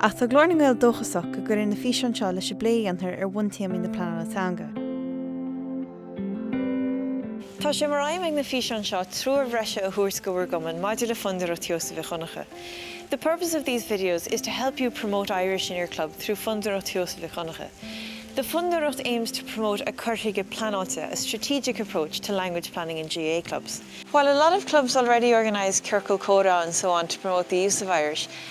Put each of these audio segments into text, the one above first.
Ach tá Glór na nGael dóchasach go gcuirfidh na físeáin seo leis an bplé a dhéantar ar bhuntéamaí na pleanála teanga. Tá sé mar aidhm ag na físeáin seo treoir bhreise a thabhairt go bhur gcumann maidir le Fondúireacht Sheosaimh Mhic Dhonncha The purpose of these videos is to help you promote Irish in your club through Fondúireacht Sheosaimh Mhic Dhonncha The Fondúireacht aims to promote cur chuige pleanáilte a strategic approach to language planning in GAA clubs. While a lot of clubs already organise ciorcal comhrá and so on to promote the use of Irish,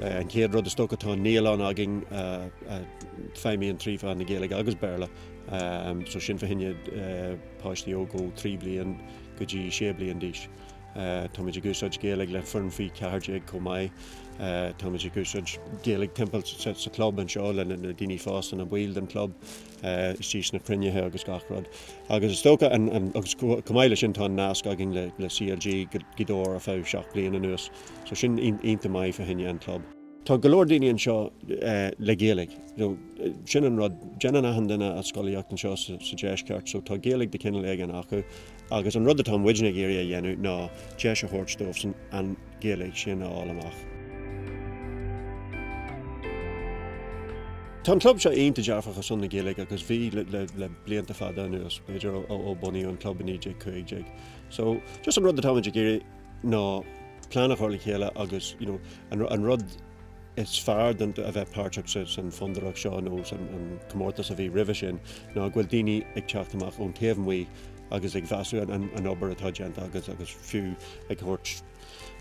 An chéad rud is dócha tá an naíoláin againn a fheidhmíonn trí mheán na Gaeilge agus Béarla so sin fá choinne páistí óg ó 3 bliain go dtí 6 bliain d'aois. Táimid ag úsáid Gaeilge le foireann faoi 14 chomh maith. Táimid ag úsáid Gaeilge timpeall sa club anseo le na daoine fásta, na baill den club istigh sna cruinnithe agus gach rud. Agus is dócha an, agus chomh maith le sin tá an nasc againn le CLG Gaoth Dobhair ar feadh seacht bliain anuas. So sin iontach maith fá choinne an club. Tá go leor daoine anseo le Gaeilge. Sin an rud, déanann achan duine a scolaíocht anseo sa deisceart so tá Gaeilge de chineal éigin acu. Agus an rud atá muidne ag iarraidh a dhéanamh ná deis a thabhairt dófasan an Ghaeilge sin a fháil amach. Tá an club seo iontach dearfach ar son na Gaeilge agus bhí le blianta fada anuas, b'fhéidir ó bunaíodh an club i 1915. So just an rud atáimid ag iarraidh ná plean a chur le chéile agus you know an rud is fearr de a bheith páirteach sa san Fondúireacht seo nó san an comórtas a bhí roimhe sin ná go bhfuil daoine ag teacht amach ón taobh amuigh agus ag measúnú an an an obair atá déanta agus agus fiú ag thabhairt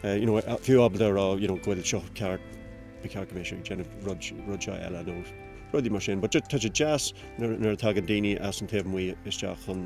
eh you know fiú ábalta a rá you know go bhfuil seo ceart ba cheart go mbeadh sibh ag déanamh rud rud seo eile nó rudaí mar sin but just tá sé deas nuair nuair a tagann daoine as an taobh amuigh isteach chun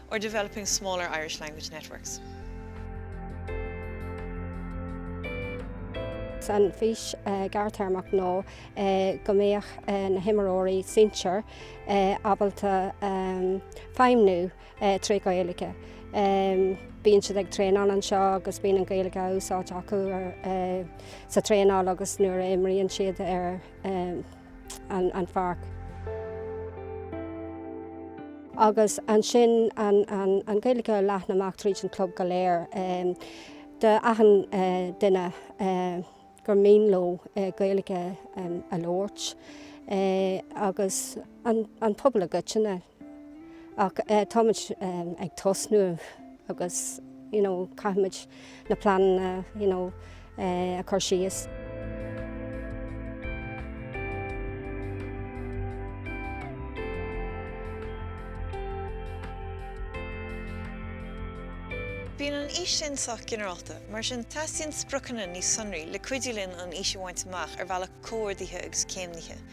or developing smaller Irish language networks. An fhís ghearrthéarmach nó go mbeadh na himreoirí sinsir ábalta feidhmiú trí Ghaeilge. Bíonn siad ag traenáil anseo agus bíonn an Ghaeilge á úsáid acu sa traenáil agus nuair a imríonn siad ar an pháirc. Agus ansin an Ghaeilge a leathnú amach tríd an chlub go léir. Do achan duine gur mian leo Gaeilge a labhairt. Agus an pobal i gcoitinne. Ach táimid ag tosnú agus you know caithfimid na pleananna you know a chur síos. Bíonn an fhís sin sách ginearálta, mar sin teastaíonn spriocanna níos sonraí le cuidiú linn an fhís a bhaint amach ar bhealach comhordaithe agus céimnithe.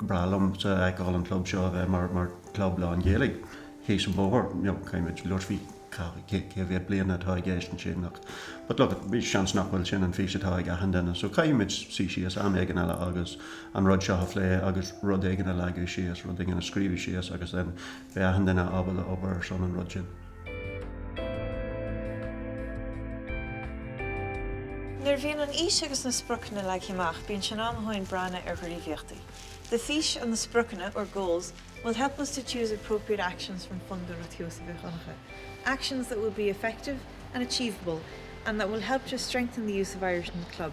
ba bhreá liomsa feiceáil an club seo a bheith mar mar club lán Ghaeilge thíos an bóthar you know caithfimid labhairt faoi cé mhéad bliana atá i gceist ansin ach but look at b'fhéidir seans nach bhfuil sin an fís atá ag achan duine so caithfimid suí síos am éigin eile agus an rud seo a phlé agus rud éigin a leagan síos rud éigin a scríobh síos agus then beidh achan duine ábalta obair ar son an rud sin Nuair a bhíonn an fhís agus na spriocanna leagtha amach bíonn sé in am dúinn breathnú ar ghníomhaíochtaí. The fís and the spriocanna, or goals, will help us to choose appropriate actions from Fondúireacht Sheosaimh Mhic Dhonncha, actions that will be effective and achievable and that will help to strengthen the use of Irish in the club.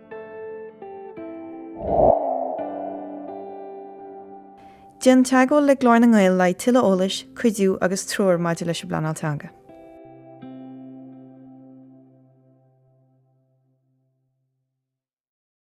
Déan teagmháil le Glór na nGael le haghaidh tuilleadh eolais, cuidiú agus treoir maidir leis an bpleanáil teanga.